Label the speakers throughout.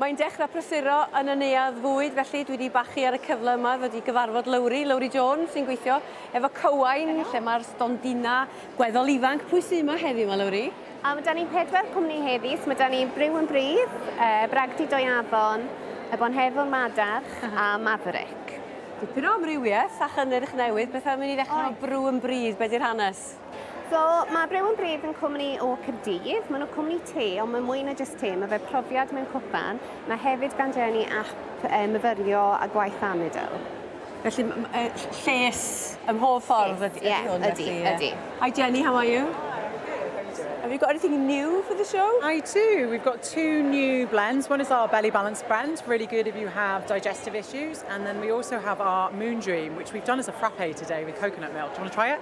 Speaker 1: Mae'n dechrau prysuro yn y neuadd fwyd, felly dwi 'di bachu ar y cyfle yma ddod i gyfarfod Lowri, Lowri Jones, sy'n gweithio efo Cywain, lle mae'r stondina gweddol ifanc. Pwy sydd yma heddiw 'ma, Lowri? A mae 'da ni pedwar
Speaker 2: cwmni heddi, so mae 'da ni Briw yn Bridd, yy Bragdy Doi Afon, y Bonhefwr Madarch a Maverick. Dipyn o
Speaker 1: amrywiaeth a chynnyrch newydd, beth am i ni ddechrau efo Briw yn Bridd, be 'di'r hanes? Caerdydd? So, mae
Speaker 2: Brew and Breathe yn cwmni o Caerdydd. Maen nhw'n cwmni te, ond mae mwy na jyst te. Mae fe profiad mewn cwpan. Mae hefyd gan Jenny app e, myfyrio a gwaith amidl. Felly
Speaker 1: lles ym mhob ffordd ydy, ydy yeah, hwn. Ydy, felly, yeah. ydy. Hi
Speaker 2: Jenny, how are
Speaker 1: you? Have you got anything new for the show? I do. We've got
Speaker 3: two new blends. One is our Belly Balance blend, really good if you have digestive issues. And then we also have our Moon Dream, which we've done as a frappe today with coconut milk. Do you want to try it?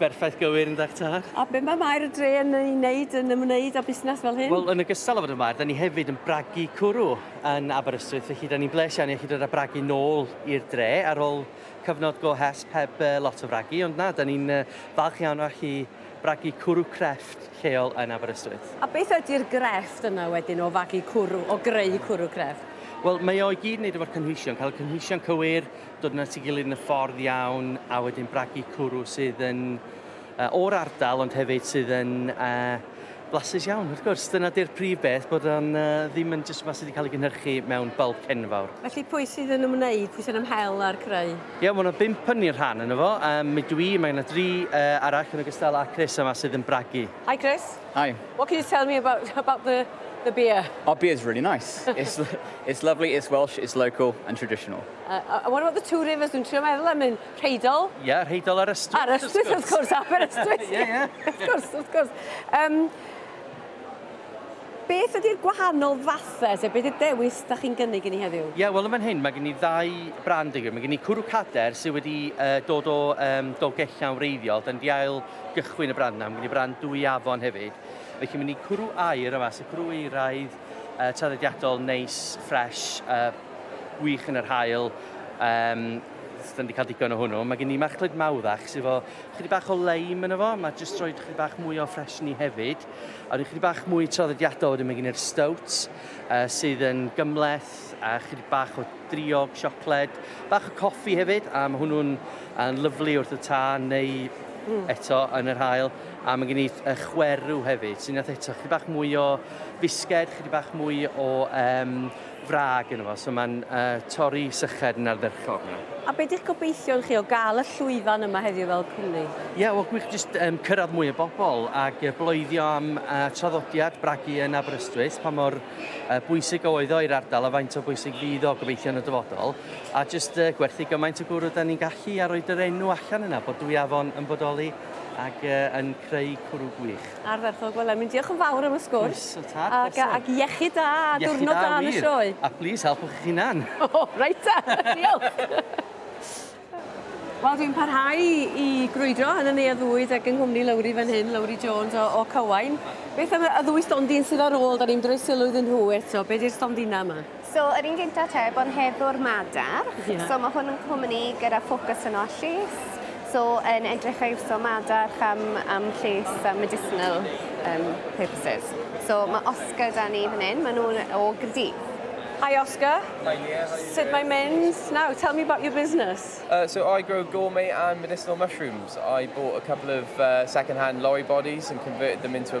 Speaker 1: Berffaith
Speaker 4: gywir yn dach tad. A be mae Maer y Dre
Speaker 1: yn ei wneud yn ymwneud â busnes fel hyn? Wel, yn ogystal â fod yn Maer,
Speaker 4: da ni hefyd yn bragu cwrw yn Aberystwyth, felly da ni'n bles iawn i allu dod â bragu nôl i'r dre ar ôl cyfnod go hesb heb uh, lot o fragu, ond na, da ni'n uh, falch iawn o allu bragu cwrw crefft lleol yn Aberystwyth. A beth ydy'r
Speaker 1: grefft yna wedyn o fagu cwrw, o greu cwrw crefft? Wel, mae o i gyd yn
Speaker 4: wneud efo'r cynhwysion, cael y cynhwysion cywir, dod yn at ei gilydd yn y ffordd iawn a wedyn bragu cwrw sydd yn uh, o'r ardal ond hefyd sydd yn uh, blasus iawn, wrth gwrs. Dyna di'r prif beth, bod o'n uh, ddim yn jyst mas wedi cael ei gynhyrchu mewn bulk cenfawr. Felly pwy sydd yn ymwneud,
Speaker 1: pwy sy'n ymhel â'r creu? Ie, yeah, mae yna bimp yn
Speaker 4: i'r rhan yna fo. Um, mi dwi, mae yna dri uh, arall yn ogystal â Chris yma sydd yn bragu. Hi Chris. Hi.
Speaker 1: What can you
Speaker 5: tell me about,
Speaker 1: about the the beer? Our beer is really nice.
Speaker 5: it's, it's lovely, it's Welsh, it's local and traditional. Uh, uh, what about the
Speaker 1: two rivers? Dwi'n trio meddwl am un. Rheidol? Ie, yeah, Rheidol ar Ystwyth.
Speaker 4: Ar Ystwyth, wrth gwrs,
Speaker 1: Aber Ystwyth. Ie, ie. Wrth gwrs,
Speaker 4: wrth gwrs.
Speaker 1: Um, beth ydy'r gwahanol fathau, sef beth ydy'r dewis da chi'n gynnig i ni heddiw? Ie, yeah, wel yma'n hyn, mae gen i
Speaker 4: ddau brand yw. Mae gen i cwrw cader sydd wedi uh, dod o um, dolgellia'n wreiddiol. Dyna di ail gychwyn y brand na. Mae gen i brand dwy afon hefyd. Felly mae gen i cwrw air yma, sy'n cwrw eiraidd uh, traddodiadol, neis, ffres, uh, wych yn yr haul, um, da ni wedi cael digon o hwnnw. Mae gen i machlud mawddach sydd efo chydig bach o leim yn efo, mae jyst rhoi chydig bach mwy o ffres ni hefyd. A rhoi chydig bach mwy traddodiadol wedyn mae gen i'r stout uh, sydd yn gymleth a chydig bach o driog, siocled, bach o coffi hefyd a mae hwnnw'n uh, lyflu wrth y ta neu mm. eto yn yr hael. A mae gen i uh, chwerw hefyd sy'n eto chydig bach mwy o fisged, chydig bach mwy o um, wrag yno fo, so mae'n uh, torri syched yn ardderchog yna. A beth ydych
Speaker 1: gobeithion chi o gael y llwyfan yma heddiw fel cwmni? Ie, yeah, wel gwych jyst
Speaker 4: um, cyrraedd mwy o bobl ac uh, bloeddio am uh, traddodiad bragu yn Aberystwyth, pa mor uh, bwysig oedd o i'r ardal a faint o bwysig fydd o gobeithio yn y dyfodol, a jyst uh, gwerthu gymaint o gwrw da ni'n gallu a roed yr enw allan yna bod dwy afon yn bodoli ac uh, yn creu cwrw gwych. Ardderchog, wel Emlyn, diolch
Speaker 1: yn fawr am y sgwrs. Croeso, tad, croeso. Ac, ac iechyd da, a diwrnod da yn y sioe. A please, helpwch eich
Speaker 4: hunan. O, oh, reit ta,
Speaker 1: diolch. Wel, dwi'n parhau i grwydro yn y neuadd fwyd ac yng nghwmni Lowri fan hyn, Lowri Jones o, o Cywain. Beth am y ddwy stondin sydd ar ôl, da ni'n droi sylw iddyn nhw eto, be di'r stondina yma? So yr un gynta te,
Speaker 2: bod yn heddwr madarch. Yeah. So mae hwn yn cwmni gyda ffocws yn o'r lles. So yn edrych a iwso madarch am, am lles a medicinal um, purposes. So mae Oscar da ni fan hyn, maen nhw'n o Gyrdydd. Hi Oscar. Hi Leah, how
Speaker 1: are you Sut
Speaker 6: mae mynd?
Speaker 1: Now, tell me about your business. Uh, so I grow
Speaker 6: gourmet and medicinal mushrooms. I bought a couple of uh, second-hand lorry bodies and converted them into a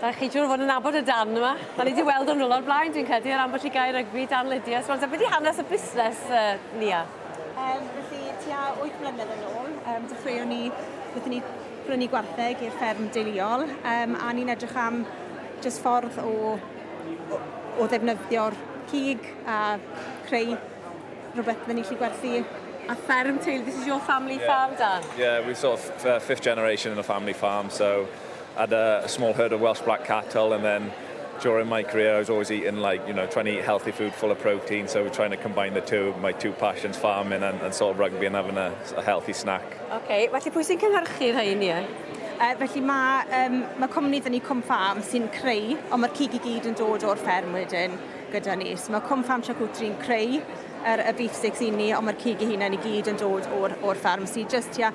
Speaker 1: Da chi siŵr o fod yn nabod y darn yma. Da ni wedi weld o'n rhywle o'r blaen, dwi'n credu, ar ambell i gair rygbi, darn Lydia. So, beth i hanes y busnes, uh, Nia? Um, felly,
Speaker 7: tua 8 blynedd yn ôl, um, dechreuon ni, wnaethon ni brynu gwartheg i'r fferm deuluol, um, a ni'n edrych am jyst ffordd o, o, o ddefnyddio'r cig a creu rhywbeth fydden ni'n lli gwerthu a fferm teulu.
Speaker 1: This is your family yeah. farm, Dan? Yeah, we're sort of uh,
Speaker 8: fifth generation in a family farm, so I had a small herd of Welsh black cattle and then during my career I was always eating like, you know, trying to eat healthy food full of protein, so trying to combine the two, my two passions, farming and, and sort of rugby and having a, a healthy snack. OK, felly pwy sy'n
Speaker 1: cynhyrchu rhain ie? Uh, felly mae,
Speaker 7: um, mae cwmni dyn ni Cwm Farm sy'n creu, ond mae'r cig i gyd yn dod o'r fferm wedyn gyda ni. So mae Cwm Farm Charcutery'n creu yr, y beef sticks i ni, ond mae'r cig i hunain i gyd yn dod o'r, or fferm. So just, yeah,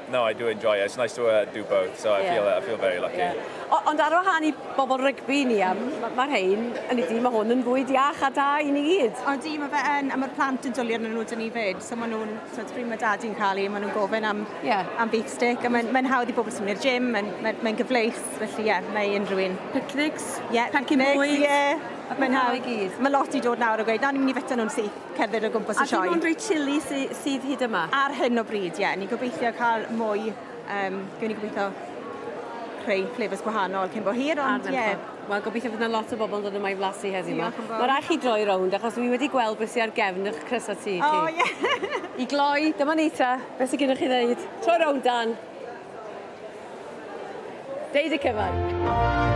Speaker 8: No, I do enjoy it. It's nice to uh, do both, so I yeah. feel uh, I feel very lucky. Yeah. O, ond ar
Speaker 1: wahân i bobl rygbi ni, a mae'r ma rhain, yn i di, mae hwn yn fwy diach a da i ni gyd. O di, mae fe yn, a mae'r
Speaker 7: plant yn dwlu arnyn nhw dyn ni fyd, so maen nhw'n, so pryd mae dad i'n cael ei, maen nhw'n gofyn am, yeah. am beef stick, a mae'n mae hawdd i bobl sy'n mynd i'r gym, mae'n mae, mae gyfleus, felly ie, yeah, mae unrhyw un. Picnics? Ie, yeah,
Speaker 1: picnics, ie.
Speaker 7: Yeah. Mae'n hawdd i gyd. Mae lot i dod
Speaker 1: nawr o
Speaker 7: gweud, na, ni'n mynd i fita nhw'n syth. cerdded o gwmpas y sioe. A dim ond rei chili sy,
Speaker 1: sydd hyd yma? Ar hyn o bryd, ie. Yeah.
Speaker 7: Ni'n gobeithio cael mwy, um, gwn i gobeithio rhai flavours gwahanol cyn bo hir, ond ie. Yeah. Wel, gobeithio fydd
Speaker 1: yna lot o bobl yn dod yma i flasu heddiw yma. Mae rhaid chi droi rownd, achos dwi wedi gweld beth sy'n ar gefn eich crysau ti. O, oh, ie. Yeah. I gloi, dyma ni ta. Beth sy'n gennych chi ddeud? Troi rownd, Dan. Deud y cyfan.